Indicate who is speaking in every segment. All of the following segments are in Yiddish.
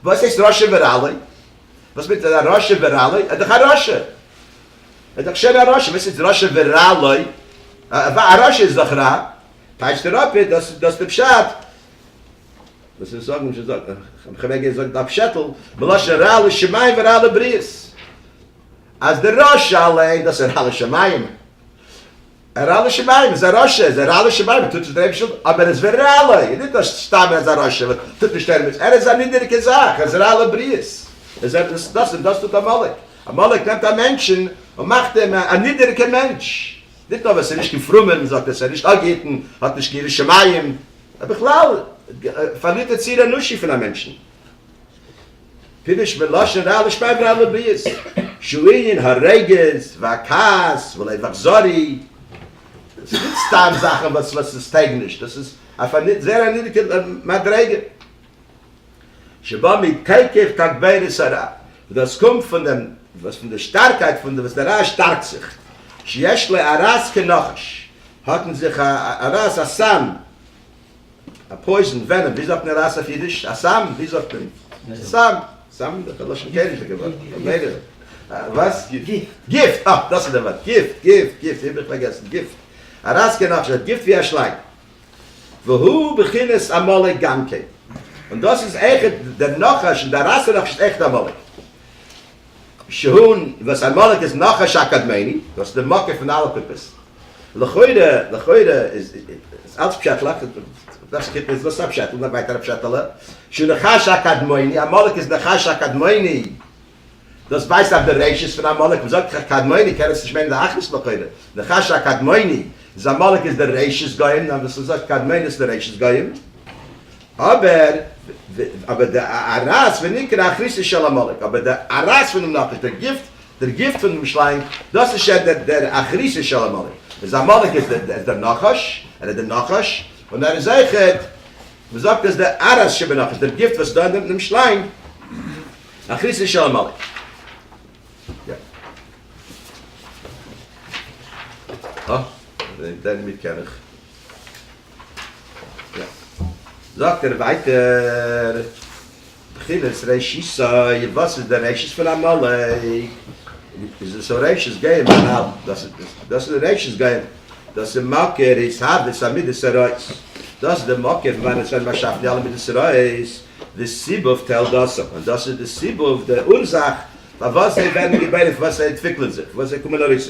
Speaker 1: וואס הייסט רשע וראלי? וואס מיינט א רשע וראלי? ער איז דאך א רשע! ער איז דאך שוין א רשע! וואס הייסט רשע וראלי? א רשע איז דאך רע! טייטשט ער אפ דאס איז דאס די פשט. וואס ווילסטו זאגן? נישט זאגן איך האב געווען געזאגט א פשעטל מלשון רע לשמים ורע לבריות אז דער רשע אליין דאס איז רע לשמים. ר ל שביים איז א רשע, איז ר ל שביים, ער טוט נישט דער אייבערשטער ווילן, אבער ער איז ו ר ל, איז נישט אז סתם ער איז א רשע וואס טוט נישט ערמעץ, ער איז א נידעריגע זאך, ער איז ר ל בריות, איז ער דאס, דאס און דאס טוט עמלק, עמלק נעמט א מענטשן און מאכט אים א נידעריגע מענטש, נישט נאר וואס ער איז נישט קיין פרומער, מען זאגט עס ער איז נישט אפגעהיטן, האט נישט קיין יראת שמים, בכלל פארלירט ער ציר אנושי פון א מענטשן. פירוש מלשון רע לשמה ורע לבריות שהוא ענין הרוגז והכעס ולב אכזרי, דאס איז נישט סתם זאכן וואס וואס עס טויג נישט, דאס איז אויף א זייער א נידריגע מדריגה, שבא מתוקף תגבורת הרע, וואס דאס קומט פון דעם וואס פון די שטארקייט פון וואס דער רע שטארקט זיך, שיש לו ארס כנחש, האט אין זיך א ארס א סם, א פויזן, ווענעם, ווי זאגט מען ראס אויף אידיש? א סם, ווי זאגט מען? סם, סם איז דאך א לשון קעגנליכע ווארט, ממילא, וואס? גיפט, אה, דאס איז דער ווארט, גיפט, גיפט, גיפט, איך האב מיך פארגעסן, גיפט, א ראס קען אויך זיין גיפט ווי א שלאנג, והוא בחינת עמלק גם כן, און דאס איז עכט, דער נחש און דער ראס איז נאכנישט עכט עמלק, שהן וואס עמלק איז נחש הקדמוני, דאס איז די מקור פון אלע קופות. לכאורה, לכאורה איז איז אלץ פשעטלעך, וואס קופה איז וואס א פשעטל, נאך ווייטער א פשעטעלע, שהוא נחש הקדמוני, עמלק איז נחש הקדמוני, דאס ווייזט אויף די רשעות פון עמלק, וואס זאגט זיך קדמוני, קען עס נישט מיינען די אחדות לכאורה, נחש הקדמוני איז עמלק איז די רשעות גוים, נאר וואס עס זאגט קדמוני איז די רשעות גוים. אבער אבער די ארז ונקרא אחריתו של עמלק, אבער די ארז פונעם נחש, דער גיפט, דער גיפט פונעם שלאנג, דאס איז שוין דער דער אחריתו של עמלק. איז עמלק איז דער איז דער נחש, ער איז דער נחש, און ער איז אויכעט, מען זאגט אז דער ארז שבנחש, דער גיפט וואס איז דא אין דעם שלאנג, אחריתו של עמלק. יא. אה, דעם דעם ניק קען איך. זאגט ער ווייטער בחינת רעשיסע וואס איז די רעשיס פון עמלק איז עס א רעשיס געים מנהל דאס דאס איז די רעשיס געים דאס איז מקור התהוות המידות הרעות דאס איז די מקור פון וואנעט ווערן באשאפן די אלע מידות הרעות די סיבוב תולדותם און דאס איז די סיבוב די אורזאך פארוואס זיי ווערן געבוירן פארוואס זיי אנטוויקלען זיך פארוואס זיי קומען ארויס.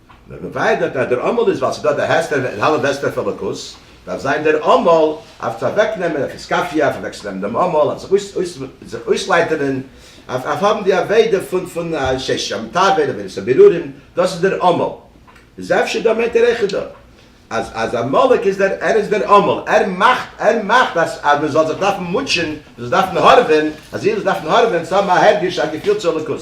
Speaker 1: מען באוויידערט אז דער אמאל איז ווייל ס'דא די העסטער און האלב העסטער פון אלוקות, דארף זיין דער אמאל אויף צו אוועקנעמען אויף היסקאפיע, אויף אוועקצונעמען דעם אמאל, אויף זיך אויסלייטערן, אויף האבן די עבודה פון פון שיש שם טוב און עבודת הבירורים, דאס איז דער אמאל. איז אפשר דא מיינט ער אויכעט דא אז אז עמלק איז דער ער איז דער אמאל, ער מאכט ער מאכט אז אז מען זאל זיך דארפן מוטשען, מען זאל דארפן הארעווען, אז איר זאלט דארפן הארעווען צו האבן א הרגש א געפיל צו אלוקות,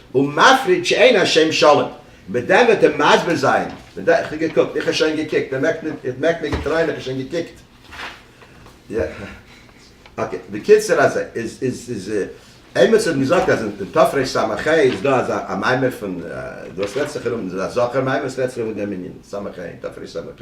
Speaker 1: ומפריד שאין השם שלום, מיט דעם וועט ער מסביר זיין, מיט דעם, איך האב געקוקט, איך האב שוין געקוקט, ער מעקט ניט, ער מעקט מיר געטרייען איך האב שוין געקוקט, אקעי, בקיצור אזוי, איז, איז, איז, עימיצער האט מיר געזאגט אז אין תפרש סה מ ח איז דא אזא א מיימער פון, דאס רעדט זיך ארום, דאס איז א זכר מיימער, עס רעדט זיך ארום וועגן דעם ענין, סה מ ח, תפרש סה מ ח.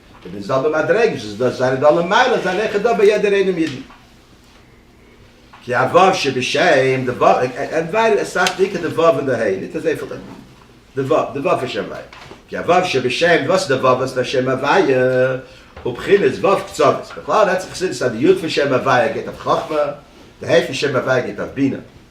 Speaker 1: און די זעלבע מדריגות איז דא זייער דא למעלה אז ער רעכענט דא ביי יעדער איינעם אידן כי א ו' שבשם די ו' ענד ווייל עס זאגט בעיקר די ו' און די ה' ניט אזויפיל די די ו' די ו' פון שם הוויה כי א ו' שבשם וואס איז די ו' וואס פאר שם הוויה הוא בחינת ו' קצוות בכלל רעדט זיך חסידות אז די י' פון שם הוויה גייט אויף חכמה די ה' פון שם הוויה גייט אויף בינה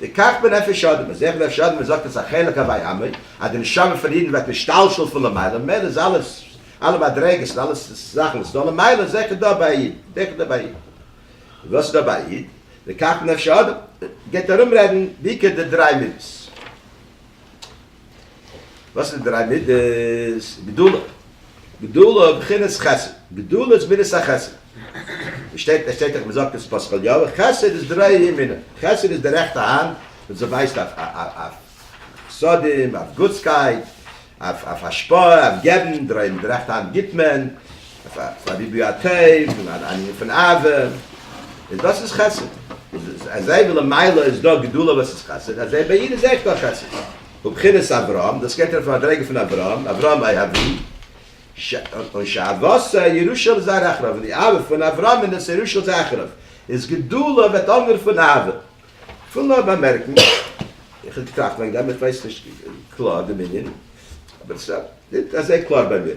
Speaker 1: וכך בנפש אדם, אזוי אויך בנפש אדם, מ'זאגט אז א חלק הווי אמר, אז די נשמה פון אידן ווערט נשתלשל פון למעלה, ממילא איז אלעס, אלע מדריגות און אלע זאכן וואס איז דא למעלה איז זיכער דא ביי א איד, זיכער דא ביי א איד. וואס איז דא ביי א איד? וכך בנפש אדם, גייט ארום רעדן בעיקר די דריי מידות. וואס איז די דריי מידות? גדולה, גדולה בחינת חסד, גדולה איז מידת החסד, עס שטייט עס שטייט דאך מ'זאגט אין פאסקאליאווע חסד איז דריי ימינה, חסד איז די רעכטע האנט וואס זי ווייזט אויף אויף חסדים, אויף גוטסקייט, אויף אויף השפעה, אויף געבן, דריי מיט די רעכטע האנט גיבט מען, פאר ריבוי הטוב און א ענין פון אהבה, און דאס איז חסד, אזי ווי למעלה איז דא גדולה וואס איז חסד, אזוי ביי איד איז אויך דא חסד, הוא בחינת אברהם, דאס גייט ארויף אויף א מדריגה פון אברהם, אברהם אי אבי, און שאהבתו ירושה על זרע אחריו, און די אהבה פון אברהם און דאס ירושה על זרע אחריו, איז גדולה וועט אנדערע פון אהבה. כ'וויל נאר באמערקן, איך האב געטראכט לאנג דעם, איך ווייס נישט קלאר דעם ענין, אבער עס איז נישט אזוי קלאר ביי מיר.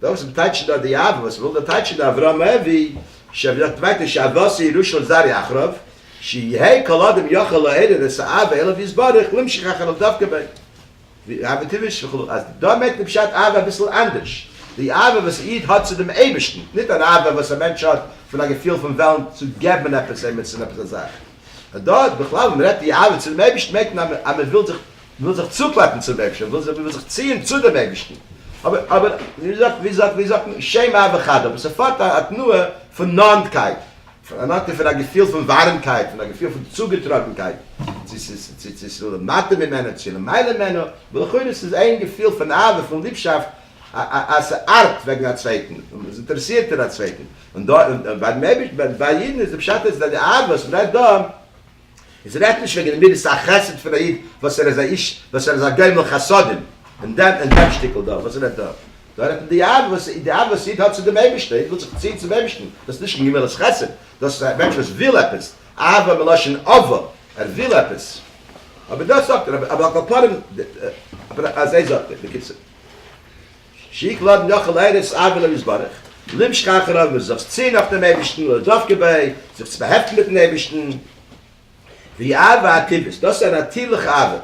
Speaker 1: דאס איז טייטשט דא די אב וואס וואלט געטייטשט דא אברהם אבי ש ווי דארט ווייטער שאבתי ראשון זרעי אחריו שיהא כל אדם יכול לעורר את האהבה אליו יתברך להמשיך אחריו דווקא ב ווי אב וטבעי ש וכו' אז דא מערקט מען פשט אהבה אביסל אנדערש די אהבה וואס א איד האט צו דעם אייבערשטן ניט אן אהבה וואס א מענטש האט פון א געפיל פון וועלן צו געבן עפעס עמיצן עפעס א זאך דא איז בכלל ווען מען רעדט די אהבה צו דעם אייבערשטן מערקט מען אז מען וויל זיך וויל זיך צוקלאפן צום אייבערשטן, וויל זיך ציען צו דעם אייבערשטן, אבער אבער ווי זאגט מען, שם ה' וכדו', אבער ס'פארט א תנועה פון נאנטקייט, פון א געפיל פון ווארעמקייט, פון א געפיל פון צוגעטראגנקייט צו צו צו למטה ממנו, צו למעלה ממנו, ולכאורה ס'איז איין געפיל פון אהבה, פון ליבשאפט, אז ס'ארבט וועגן א צווייטן, און ס'אינטערעסירט אין א צווייטן, און דארט, און ביים אייבערשטן, ביי אידן איז די פשט אז די אהבה וואס מ'רעדט דא, אונז רעדט נישט וועגן די מידת החסד פון א איד וואס ער איז א איש וואס ער איז א גומל חסדים און דעם און דעם שטיקל דא וואס רעדט דא דא רעדט מען די אהבה וואס די אהבה וואס איד האט צו דעם אייבישטער איד וויל זיך ציען צום אייבישטן דאס איז נישט קיין גמילות חסד דאס איז א מענטש וואס וויל עפעס אהבה מלשון אווא ער וויל עפעס אבער דאס זאגט ער אבער על כל פנים אבער אזוי זאגט ער בקיצור. שיק לאדן יאך אל ארץ אבי לוי יתברך, בלום שכח רב און זיך צו נאך דעם אייבערשטן און דאך כדי זיך צו באהעפטן מיטן אייבערשטן, ווי אהבה הטבעית, דאס איז א נאטירליכע אהבה,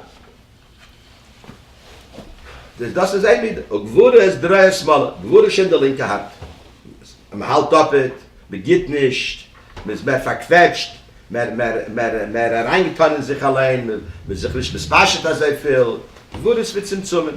Speaker 1: דאס איז זיין מידה, וגבורה איז דריה שמאלה, גבורה איז שוין די לינקע האנט, מען האלט אפעט, מען גיט נישט, מען איז מער פארקוועטשט, מער אריינגעטאן אין זיך אליין, מען איז זיך נישט מתפשט אזויפיל, גבורה איז מצומצמים.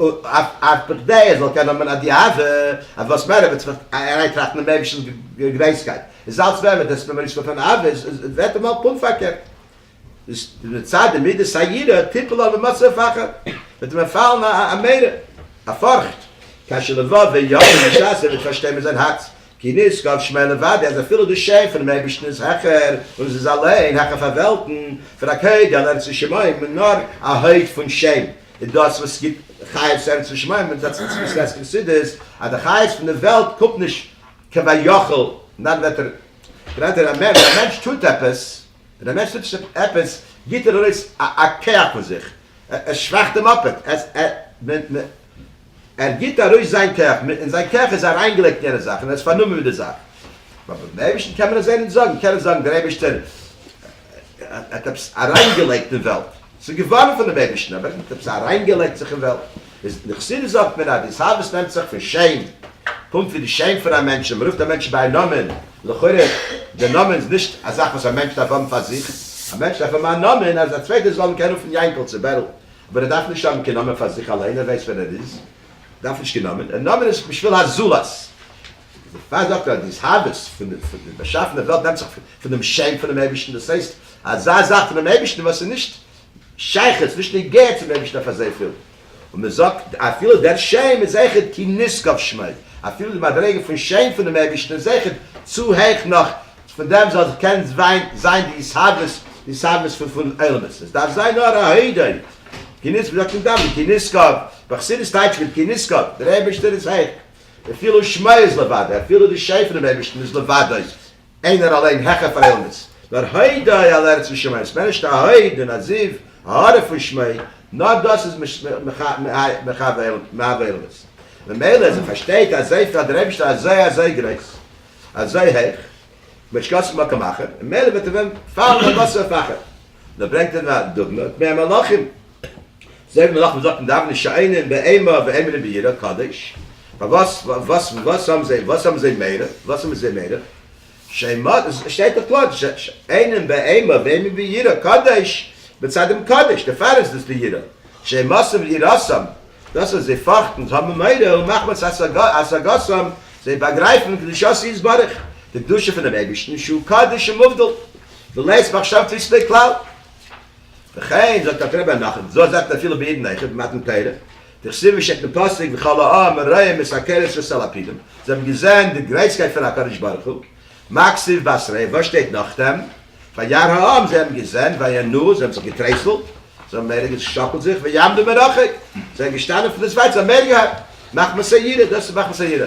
Speaker 1: אויף בכדי ער זאל קענען האבן א דיעה אז וואס מער ער וועט זיך אריינטראכטן אין אייבערשטנ'ס גרויסקייט איז אלץ מער וועט עס אים ארויסקומען פון עבירות און עס וועט אים האלט פונקט פארקערט איז מצד די מידת היראה תיפול עליו מצב הפחד וועט אים פאלן א מורא א פארכט כאשר לבו ויאמין בשעת ער וועט פארשטיין מיט זיין הארץ כי נשגב שמו לבדו, אז אפילו די שם פונעם אייבערשטן איז העכער, און עס איז אליין העכער פאר וועלטן, פון א קוד על ארץ ושמים, און נאר א הויט פון שם איז דאס וואס גיבט חיות צו ארץ ושמים, און זיי זעצן צום גרעסטן חסידות, אז די חיות פון די וועלט קומט נישט כביכול, נאר וועט ער, דער מענטש טוט עפעס, דער מענטש טוט נישט עפעס, גיט ער ארויס א כח פון זיך, ער שוואכט די מאפעד, ער גיט ארויס זיין כח, און זיין כח איז אריינגעלייגט אין יענע זאך, און ער איז פארנומען מיט די זאך. אבער ביים אייבערשטן קען מען אזוי נישט זאגן, מען קען נישט זאגן דער אייבערשטער האט עפעס אריינגעלייגט אין וועלט, ס'איז געווארן פונעם אייבערשטן, אבער ער האט עפעס אריינגעלייגט זיך אין וועלט. אין חסידות זאגט מען אז די התאהבות נעמט זיך פון שם, קומט פון די שם פון א מענטש און מ'רופט א מענטש ביי א נאמען, לכאורה די נאמען איז נישט א זאך וואס א מענטש דארף האבן פאר זיך, א מענטש דארף האבן א נאמען אז א צווייטער זאל אים קענען רופן יענקל צו בערל, אבער ער דארף נישט האבן קיין נאמען פאר זיך אליין, ער ווייסט ווער ער איז, דארף נישט קיין נאמען, נאמען איז בשביל הזולת. איז די פראגע אפילו אז די התהוות פון די באשאפענע וועלט נעמט זיך פון דעם שם פונעם אייבערשטן, דאס הייסט אזא זאך פונעם אייבערשטן וואס איז נישט שייכות, נישט נוגע צום אייבערשטן אויף אזויפיל, און מען זאגט אפילו דער שם איז זעכער כי נשגב שמו, אפילו די מדריגה פון שם פונעם אייבערשטן איז זעכער צו העכ נאך פון דעם זאל זיך קענען זיין די התהוות, די התהוות פון עולמות, עס דארף זיין נאר א הודאה, כי נשגב, מען זאגט אין דאווענען כי נשגב, בחסידות טייטשט מען כי נשגב, דער אייבערשטער איז העכ. אפילו שמו איז לבדו, אפילו די שם פונעם אייבערשטן איז לבדו, איינער אליין העכער פאר אילנות, נאר הודאה על ארץ ושמים, ס'מער נישט א הוד און א זיו, הארה פון שמו, נאר דאס איז מהווה אילנות. ממילא אז מ'פארשטייט אז אזוי פיל האט דער אייבערשטער אזוי אזוי גרויס, אזוי הויך, מ'שקאצט מקום אחר, ממילא וועט ער ווען פאלן אל מצב אחר. דא ברענגט ער א דוגמא, טמאי המלאכים, זאג מיר נאך, מ'זאגט אין דאווענען שעינים באימה ועמלים ביראת קודש, פארוואס, וואס, וואס האבן זיי, וואס האבן זיי מעריך, וואס האבן זיי מעריך, שעימות, עס שטייט דאך קלאר, שעינים באימה ועמלים ביראת קודש, מצד דעם קודש, דערפאר איז דאס די יראה, שעימותם ויראתם, דאס וואס זיי פארכטן, זיי האבן מורא, ומחמת השגתם, זיי באגרייפן קדושתו יתברך, די קדושה פונעם אייבערשטן שהוא קדוש ומובדל, ולית מחשבתו יסתכלל. וכן זאגט אלטר רבי נחום זאל זאגט אפילו בעידן איכה במתן תורה דכסיל ווי שטייט אין פסוק וכל העם ראה מסקר את שסה לפידים זיי האבן געזען די גרייסקייט פון הקדוש ברוך הוא מקציב בשר ע וואס שטייט נאכדעם וירא העם זיי האבן געזען וינועו זיי האבן זיך געטרייסלט זיי האבן מער געשאקלט זיך ויעמדו מרחק זיי זענען געשטאנען פון דאס ווייט זיי האבן מער געהאט מחמת היראה דאס איז מחמת היראה.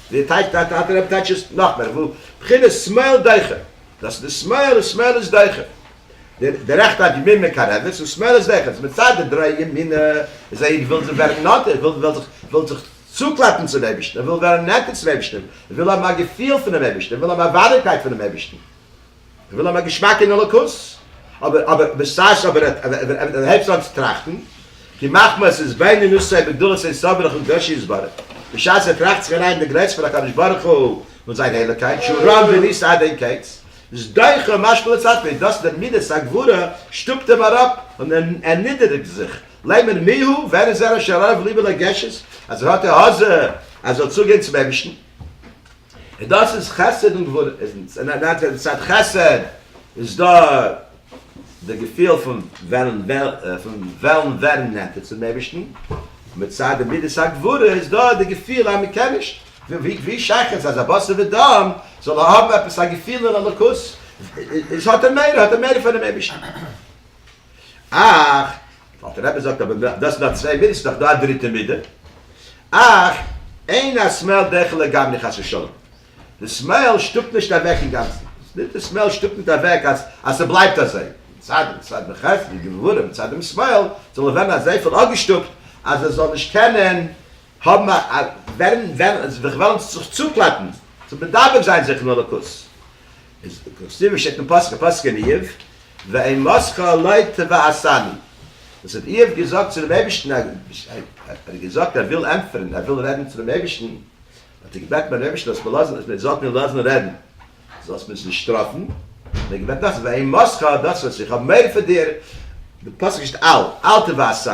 Speaker 1: ווי טייטשט דיין טאטע רבי טייטשט עס נאכמער וואו בחינת שמאל דוחה דאס איז די שמאל און שמאל איז דוחה די די רעכטע האט ימין מקרבת און שמאל איז דוחה דאס מצד די דרא ימינא איז א איד וויל זיך ווערן נאנטער וויל וויל זיך וויל זיך צוקלעפן צום אייבערשטן ער וויל ווערן נענטער צום אייבערשטן ער וויל האבן א געפיל פונעם אייבערשטן ער וויל האבן א ווארימקייט פונעם אייבערשטן. איך וויל האבן א געשמאק אין אלוקות, אבער אבער בשעת אבער ער ער הייבט אן צו טראכטן, כי מחמת עס איז בענין נושאי בגדולת עשיו ברחל בתו יתברך, בשעת ער טראכט זיך אריין אין די גרעסט פון הקדוש ברוך הוא און זיין הייליגקייט שהוא רם ונישא עד אין קץ, איז דוחה ומשפיל את עצמו, איז דאס דער מידת הגבורה שטופט אים אראפ און ער נידעריגט זיך, לומר מי הוא, ווער איז ער אשר ערב ליבו לגשת, אז ער האט העזה אז ער זאל צוגיין צום אייבערשטן. און דאס איז חסד און גבורה, און אט דארט אין צד חסד איז דא די געפיל פון וועלן ווערן נענטער צום אייבערשטן, און מצד די מידת הגבורה איז דא די געפיל אז מען קען נישט, ווי שייך עס אז א בשר ודם זאל האבן עפעס א געפיל אין אלוקות, איז האט ער מער, האט ער מער פונעם אייבערשטן. אך, אלטע רבי זאגט אבער דאס איז נאר צוויי מידות, ס'איז דאך דא א דריטע מידה, אך אין השמאל דעכל לגמרי חס ושלום, די שמאל שטופט נישט אוועק אינגאנצן, נישט די שמאל שטופט נישט אוועק אז אז ס'בלייבט אזוי, מצד דעם צד נחרץ די גבורה מצד דעם שמאל זאל ער ווערן אזויפיל אפגעשטופט אז ער זאל נישט קענען האבן א ווערן ווען זיך וועלן זיך צוקלאפן צו מדבק זיין זיך אין אלוקות, איז כסדר שטייט אין פסוק הפסוק אין איוב, ואמרתך אלי תבעשני, וואס האט איוב געזאגט צו דעם אייבערשטן, ער האט געזאגט ער וויל ענטפערן, ער וויל רעדן צו דעם אייבערשטן, האט ער געבעטן ביים אייבערשטן זאלסט מיר לאזן, אז מען זאלט מיר לאזן רעדן, זאלסט מיר נישט שטראפן, האט ער געבעטן נאך, ואמרתך דאס וואס איך האב מורא פון דיר, די פסוק שטייט אל, אל תבעשני,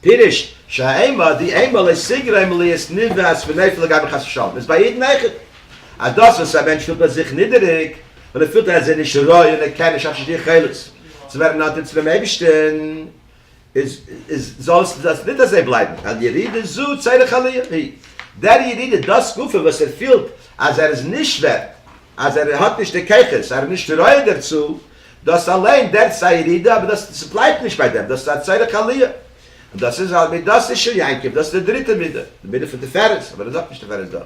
Speaker 1: פירוש שהאימה די אימה לא סגרה אם לא יעש ניווע אז ונופל לגבי חס ושלום איז ביי יעדן איכער אז דאס וואס א מענטש פילט ביי זיך נידעריג און ער פילט אז ער איז נישט ראוי און ער קען נישט אנשטאט די יכולת צו ווערן נאנטער צו דעם אייבערשטען איז איז זאל עס דאס ניט אזוי בלייבן ווייל ירידה זו צריך עליה היא דער ירידה דאס גופא וואס ער פילט אז ער איז נישט ווערט אז ער האט נישט די כוחות ער איז נישט ראוי דערצו דאס אליין דערט איז א ירידה, אבער דאס ס'בלייבט נישט ביי דעם, דאס איז א צורך עליה, און דאס איז א מידת איש של יעקב, דאס איז די דריטע מידה, די מידה פון תפארת, אבער ער זאגט נישט תפארת דא,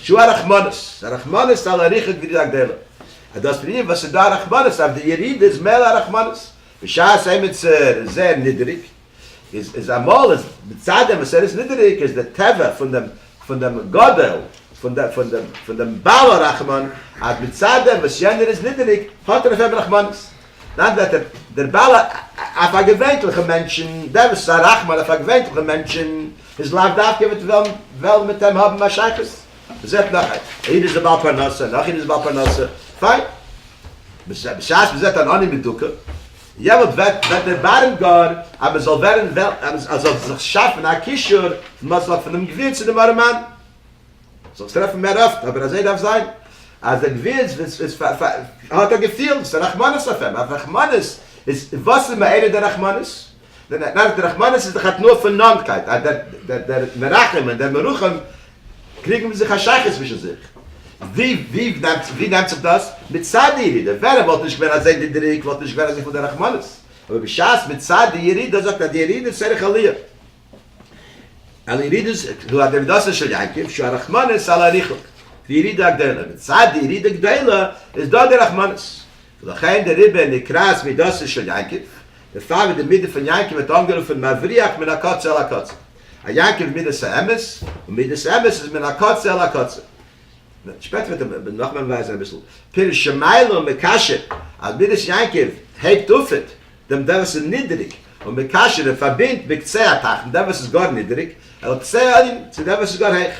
Speaker 1: שו ע רחמנות, ס'איז א רחמנות על אריכות בריאה גדולה, אז דאס פון אים וואס ס'איז דא א רחמנות אויף די ירידה איז מעלה הרחמנות, בשעת עמיצער איז זייער נידעריג, איז איז אמאל איז מצד דעם וואס ער איז נידעריג איז די טבע פון דעם פון דעם גדול פון דעם פון דעם פון דעם בעל הרחמן אז מצד דעם וואס יענער איז נידעריג האט ער אויף אים רחמנות. אין אנדערע ווערטער דער בעל ה אויף א געווענטליכע מענטשן דער וואס איז א רחמן אויף א געווענטליכע מענטשן איז לאו דווקא וועט וועלן וועלן מיט אים האבן א שייכות. מען זעט נאך א איד איז א בעל פרנסה נאך איד איז בעל פרנסה פיין. בשעת מען זעט אן עני מדוכא יעבוד וועט וועט דערבארן גאר אז מען זאל ווערן וועלט אז מען זאל זיך שאפן א קישור מוצלח פונעם גביר צו דעם ארעמאן זיך טרעפן מער אפט אבער אזוי דארף זיין אז דער גביר איז איז האט א געפיל וואס איז א רחמנות אויף אים א רחמנות איז וואס איז מעלה די רחמנות די רחמנות איז דאך א תנועה פון נאנטקייט אז דער דער מרחם און דער מרחם קריגן זיך א שייכות צווישן זיך. ווי ווי ווי נעמט זיך דאס? מצד הירידה, ווען ער וואלט נישט געווען אזוי נידעריג וואלט נישט געווען אזוי פון די רחמנות, אבער בשעת מצד די ירידה זאגט אז די ירידה איז צריך עליה, על ירידות הוא הדעבידסן של יעקב שהוא הרחמנות על הריחוק, די ירידה הגדולה, מצד די ירידה גדולה איז דא די רחמנות, ולכן די ריבה נקראת מידתו של יעקב, דערפאר ווערט די מידה פון יעקב ווערט אנגערופן מבריח מן הקצה אל הקצה. א יעקב איז מידת האמת, און מידת אמת איז מן הקצה אל הקצה. שפעטער וועט ער נאך מער ווייזען אביסל פירוש שמיילא און מקשר, אז מידת יעקב הייבט אופעט דעם דער וואס איז נידעריג, און מקשר ער פארבינדט בקצה התחתון דעם וואס איז גאר נידעריג אל קצה העליון צו דעם וואס איז גאר הייך.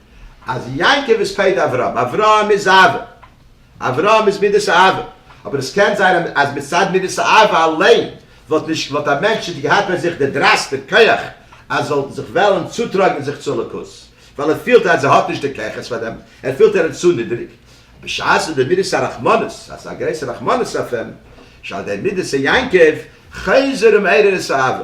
Speaker 1: אז יעקב איז פייד אברהם, אברהם איז אהבה, אברהם איז מידת האהבה, אבער עס קען זיין אז מצד מידת האהבה אליין וואלט נישט וואלט א מענטש נישט געהאט ביי זיך די דרייסט די כח אז זאל זיך וועלען צוטראגען זיך צו אלוקות, ווייל ער פילט אז ער האט נישט די כוחות פאר דעם, ער פילט ער איז צו נידריג, בשעת וואס די מידת הרחמנות אז א גרויסע רחמנות אויף אים, שעל ידי מידת היעקב חזר ומעורר את האהבה.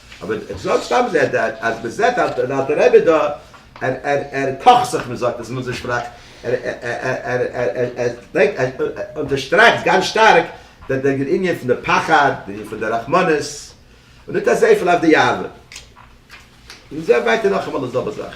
Speaker 1: אבער איך זאג סתם זע ד אז מען זעט אז דער אלטער רבי דא ער ער קאכט זיך מען זאגט עס אין אונזער שפראך ער ער ער ברענגט ער אונטערשטרייכט גאנץ שטארק דער דער ענין פון די פחד דער ענין פון די רחמנות און נישט אזויפיל אויף די יאוה. און זע ווייטער נאכאמאל די זעלבע זאך.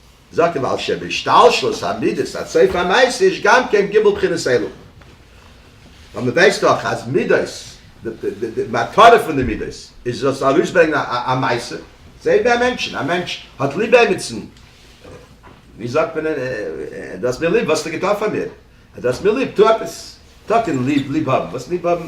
Speaker 1: זאגט דער בעל שם בהשתלשלות המידות עד סוף המעשה יש גם כן ג' בחינות אלו, ווייל מען ווייסט דאך אז מידות די מטרה פון די מידות איז זאלסט ארויסברענגען א מעשה, זעה ביי א מענטשן, א מענטש האט ליב עמיצן, ווי זאגט מען דו האסט מיר ליב, וואס האסטו געטון פאר מיר, דו האסט מיר ליב, טו עפעס, טאקע ליב, ליב האבן, וואס ליב האבן,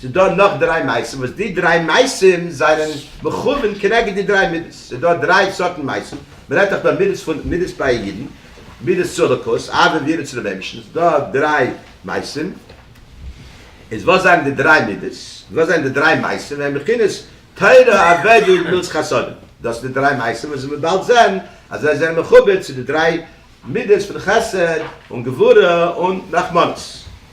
Speaker 1: ס'איז דא נאך דריי מעשים וואס די דריי מעשים זענען מכוון כנגד די דריי מידות. ס'איז דא דריי סארטן מעשים, מ'רעדט דאך דא מידות פון מידות בייע אידן, מידות צו אלוקות, אהבה ויראה צו די בענבשטן, ס'איז דא דריי מעשים, איז וואס זענען די דריי מידות? וואס זענען די דריי מעשים ווען בחינת תורה עבודה און גמילות חסדים? דאס זענען די דריי מעשים וואס מ'וועט באלד זען אז זיי זענען מחובר צו די דריי מידות פון חסד און גבורה און רחמנות.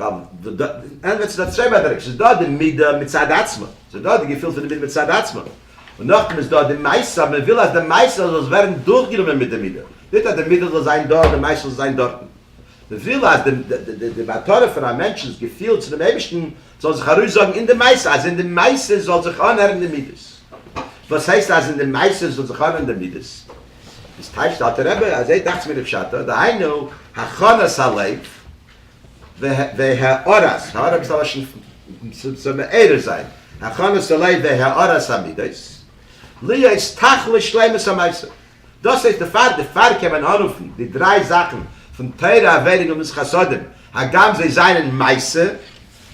Speaker 1: ווייל ד ה ענדערט זיך אויף צוויי באדייטונגען, ס'איז דא די מידה מצד עצמה, ס'איז דא די געפיל פון די מידה מצד עצמה, און נאכדעם איז דא די מעשה, אז מ'וויל אז די מעשה זאל ווערן דורכגענומען מיט די מידה, ניט אז די מידה זאל זיין דא און די מעשה זאל זיין דארטן. מ'וויל אז די די די מטרה פון א מענטשנ'ס געפיל צו דעם אייבערשטן זאל זיך ארויסזאגן אין די מעשה, אז אין די מעשה זאל זיך אנהערן די מידות. וואס הייסט אז אין די מעשה זאל זיך אנהערן די מידות? דאס טייטשט אלטער רבי, אזוי דאכטס מיר לפשטו, דהיינו הכנת הלב, והערת, הערה איז א לשון פון צו מעורר זיין, הכנות הלב והערת המידות, להיות טהח לשלימות המעשה, דאס הייסט דערפאר דערפאר קען מען אנרופן די דריי זאכן פון תורה עבירה און גמילות חסדים, הגם זיי זענען מעשה,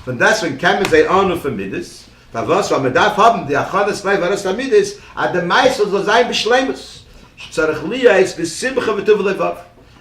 Speaker 1: פון דעסוועגן קען מען זיי אנרופן מידות, פארוואס ווייל מען דארף האבן די הכנות לב והערת המידות אז די מעשה זאל זיין בשלימות, שצריך להיות בשמחה וטוב לבב.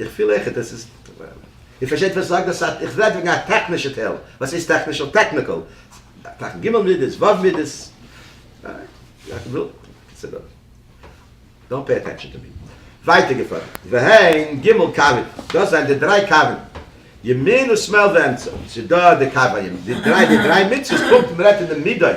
Speaker 1: איך פיל אויכעט עס איז איר פארשטייט וואס איך זאג? איך רעד וועגן א טעכנישע טייל, וואס הייסט טעכנישע? טעקניקעל, תכ ג מידות, ו' מידות, דאנט פעי עטענשאן טו מי. ווייטער געפארן, והן ג' קווין, דאס זענען די דריי קווין, ימין ושמאל ואמצע, ס'איז דא די קו הימין, די דריי מצוות פונקט ווי מ'רעדט אין די מידות,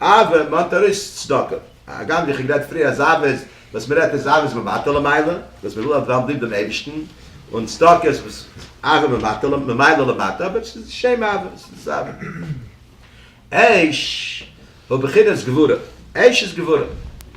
Speaker 1: אבער מ'האט ארויס צדקה. הגם ווי כ'האב גערעדט פריער אז אבות וואס מ'רעדט איז אבות ממעטה למעלה, וואס מ'וויל אז וועלן ליב דעם אייבערשטן, און צדקה איז וואס אבות ממעטה ממעלה למטה, אבער עס איז שם אבות, עס איז אבות. עש הוא בחינת גבורה, עש איז גבורה.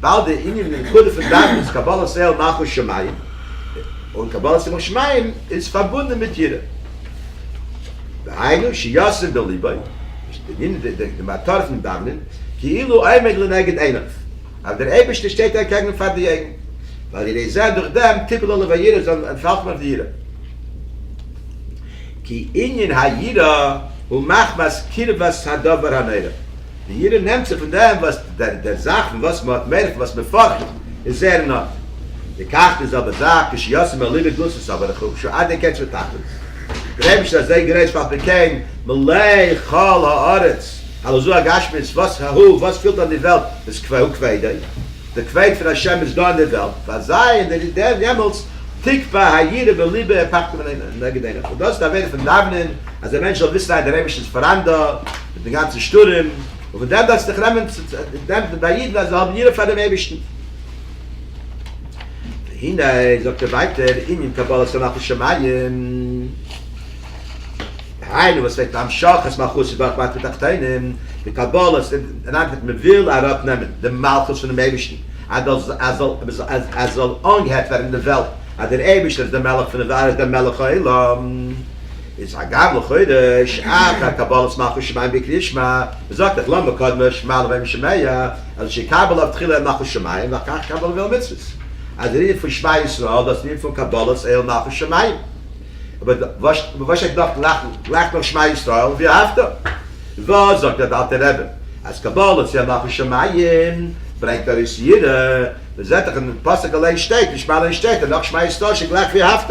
Speaker 1: ווייל די ענין און נקודה פון דאווענען איז קבלת עול מלכות שמים, און קבלת ימות שמים איז פארבונדען מיט יראה. והיינו שישים בליבו, די ענין די מטרה פון דאווענען, כאילו עומד לנגד עיניו, אז דער אייבערשטער שטייט אקעגן פאר די אויגן, ועל ידי זה דורך דעם תיפול עליו היראה זאל אנטפאלט אויף די יראה. כי ענין היראה הוא מחמת קרבת הדבר הנורא. די יראה נעמט זיך פון דעם וואס דער זאך פון וואס מען האט מער פון וואס מען פארכט איז זעהר אין ארדער. די קאכט די זעלבע זאך כשישים אל ליבי גוסס אבער איך האב שוין אדער קענטש ותכלית. דער אייבערשטער איז אזוי גרויס ועל פי כן מלאה כל הארץ הלא זו הגשמיות וואס ה ה וואס פילט אן די וועלט איז כ ו הוא כבדו. די כבוד פון השם איז דא אין די וועלט פאר זיי און דער דעם יעמאלטס תקפא היראה בליבו ופחדו מן נגד עיניו און דאס איז די עבירה פון דאווענען אז א מענטש זאל וויסן אז דער אייבערשטער איז פאראן דא. מיט די גאנצע שטורעם, און פון דעם דארפסטו דיך נעמען צו דעמפן ביי אידן אז זיי האבן יראה פאר דעם אייבערשטן. והנה, זאגט ער ווייטער, ענין קבלת הנחת שמים, דהיינו וואס וועגט המשכת מלכותו דורך מטה תחתונים, די קבלה אינאיינוועגן מען וויל אראפ נעמען די מלכות פונעם אייבערשטן, אז עס זאל אנגעהערט ווערן אין די וועלט אז דער אייבערשטער איז דער מלך פון די וועלט, ער איז דער מלך העולם. איז הגר לכאורה שייך א קבלת מלכות שמים בקריאת שמע, מען זאגט דאך למה קדמה שמע לוי' משמיה, אז שיקבל אב תחילה מלכות שמים ואחר כך קבל עול מצוות, אז דער ענין פון שמע ישראל דאס ענין פון קבלת עול מלכות שמים, אבער וואס שטייט נאך גלייך גלייך נאך שמע ישראל ואהבת, וואס זאגט דער אלטער רבי אז קבלת עול מלכות שמים ברענגט ארויס יראה, מען זעט דאך אין פסוק אליין שטייט אין שמע אליין שטייט אז נאך שמע ישראל שגלייך ואהבת.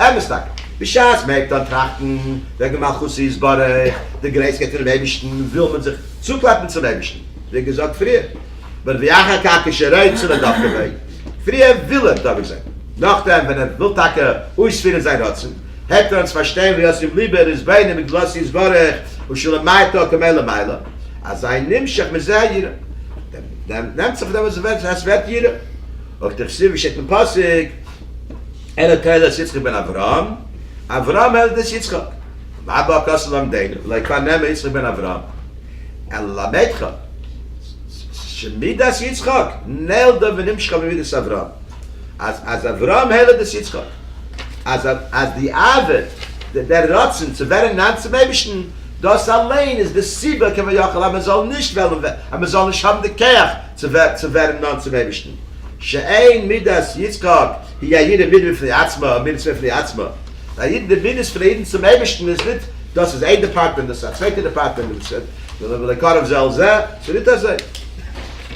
Speaker 1: אמת טאקע, בשעת מען הייבט אן טראכטן וועגן מלכותו יתברך, די גרעסקייט פונעם אייבערשטן, וויל מען זיך צוקלעפן צום אייבערשטן, ווי געזאגט פריער, ברבי אחר כך כשרעד צו נדב כבעי, פריער וויל ער דבוק זיין, נאכדעם ווען ער וויל טאקע אויספירן זיין רצון, הייבט ער אן צו פארשטיין ווי אויס אים ליבער איז בענין מגדלותו יתברך ושלמייתו כמעלה מעלה, אזי נמשך מזה היראה, דעם נעמט זיך פון דעם וואס עס ווערט יראה, אויך דכתיב ווי שטייט אין פסוק. אלא תולדות יצחק בן אברהם, אברהם אלא תולדות יצחק, ואבא הכסף למדנו, לא יקרא נעמה יצחק בן אברהם, אלא למדך, שמידת יצחק נלדה ונמשכה ממידת אברהם, אז אברהם אלא תולדות יצחק, אז די אהבה, דער רצון צו ווערן נאנט צום אייבערשטן, דאס אליין איז די סיבה כביכול אז מען זאל נישט וועלן, אז מען זאל נישט האבן די כח, צו ווערן נאנט צום אייבערשטן, שאין מידת יצחק היא א יראה מיר בפני עצמו או מיר צו בפני עצמו, ביי א אידן די מידות פון א אידן צום אייבערשטן איז ניט, דאס איז איין דעפארטמענט דאס איז א צווייטע דעפארטמענט דעם צד ולא ולקרב זה אל זה, ס'איז ניט אזוי,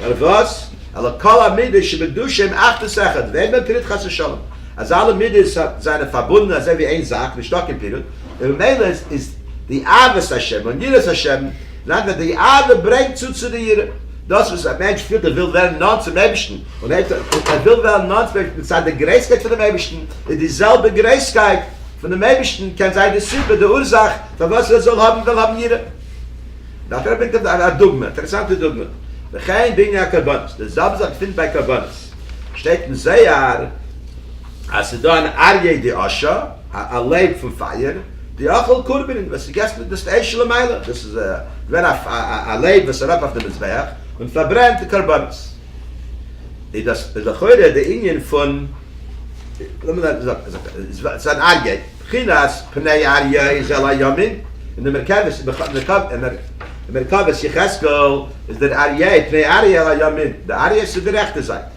Speaker 1: נאר וואס, אלא כל המידות שבדושה הם אחדות אחד ואין בהם פירוד חס ושלום, אז אלע מידות זיינען פארבונדן אזוי ווי איין זאק, נישטא קיין פירוד, און ממילא איז די אהבת השם און יראת השם, לענ ד די אהבה ברענגט צו צו די יראה. דאס וואס א מענטש פילט ער וויל ווערן נאנט צום אייבערשטן, און אויב ער וויל ווערן נאנט צום אייבערשטן מצד די גרעסקייט פונעם אייבערשטן, איז די זעלבע גרעסקייט פונעם אייבערשטן קען זיין די סיבה, די אורזאך, פארוואס ער זאל האבן וויל האבן יראה. דארף ער ברענגט ער א דוגמא, אינטערעסאנטע דוגמא, וכן בענין הקרבנות, די זעלבע זאך געפינט ביי קרבנות, שטייט אין זוהר אז ס'איז דא אן אריה די אשה, א לעב פון פייער, די אכל קרבנין וואס איז געסט מיט דאס פלייש למעלה, דאס איז געווען א לעב וואס ארויף אויף די מזבח און פארברענט די קרבנות, איז דאס איז לכאורה די ענין פון ס'איז אן אר י, בחינת פני אר י איז על הימין, און די מרכבת מרכבת יחזקאל איז דער אר י פני אר י על הימין, די אר י איז צו די רעכטע זייט.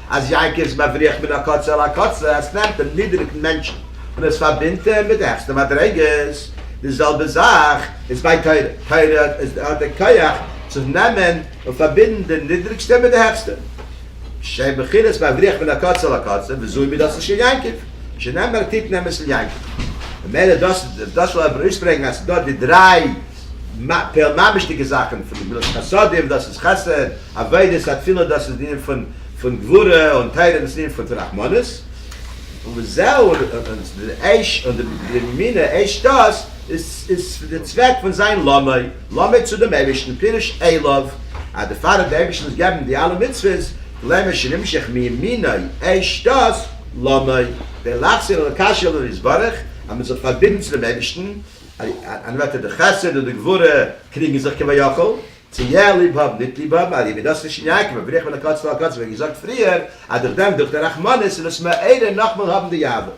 Speaker 1: אז יעקב איז מבריח מן הקצה אל הקצה, עס נעמט דעם נידעריגן מענטשן און עס פארבינדט אים מיט די העכסטע מדריגות, די זעלבע זאך איז ביי תורה, תורה האט די כח צו נעמען און פארבינדן די נידעריגסטע מיט די העכסטע, שהן בחינת מבריח מן הקצה אל הקצה, וזוהי מידתו של יעקב, שנאמר תתן אמת אל יעקב. ממילא דאס איז דאס וואס איך וויל אויסברענגן אז ס'איז דא די דריי פאר ממש'דיגע זאכן פון גמילות חסדים, דאס איז חסד, עבודת התפילה דאס איז די ענין פון גבורה, און תורה דאס איז די ענין פון רחמנות, וזהו, און די מינע עש ת איז די צוועק פון זיין למאי, למאי צו דעם אייבערשטן, פירוש עליו, אז די פאר אז די אייבערשטער זאל געבן די אלע מצוות, למאי שנמשך מימיני עש ת, למאי, כדי להחזיר אל הקשר אל הנתברך, אז מען זאל זיך פארבינדן צו דעם אייבערשטן, אַן אָרט וווּ די חסד און די גבורה קריגן זיך כביכול, צי יער ליב האָבן, ניט ליב האָבן, אַ ליבעדאָרסטיש אין יעקב און בריך פון אַ קאָץ צו אַ קאָץ, ווי געזאָגט פריער, אַז דורך דעם, דורך דער רחמנות און דאָס מערער נאָכמאָל האָבן די יאַווער.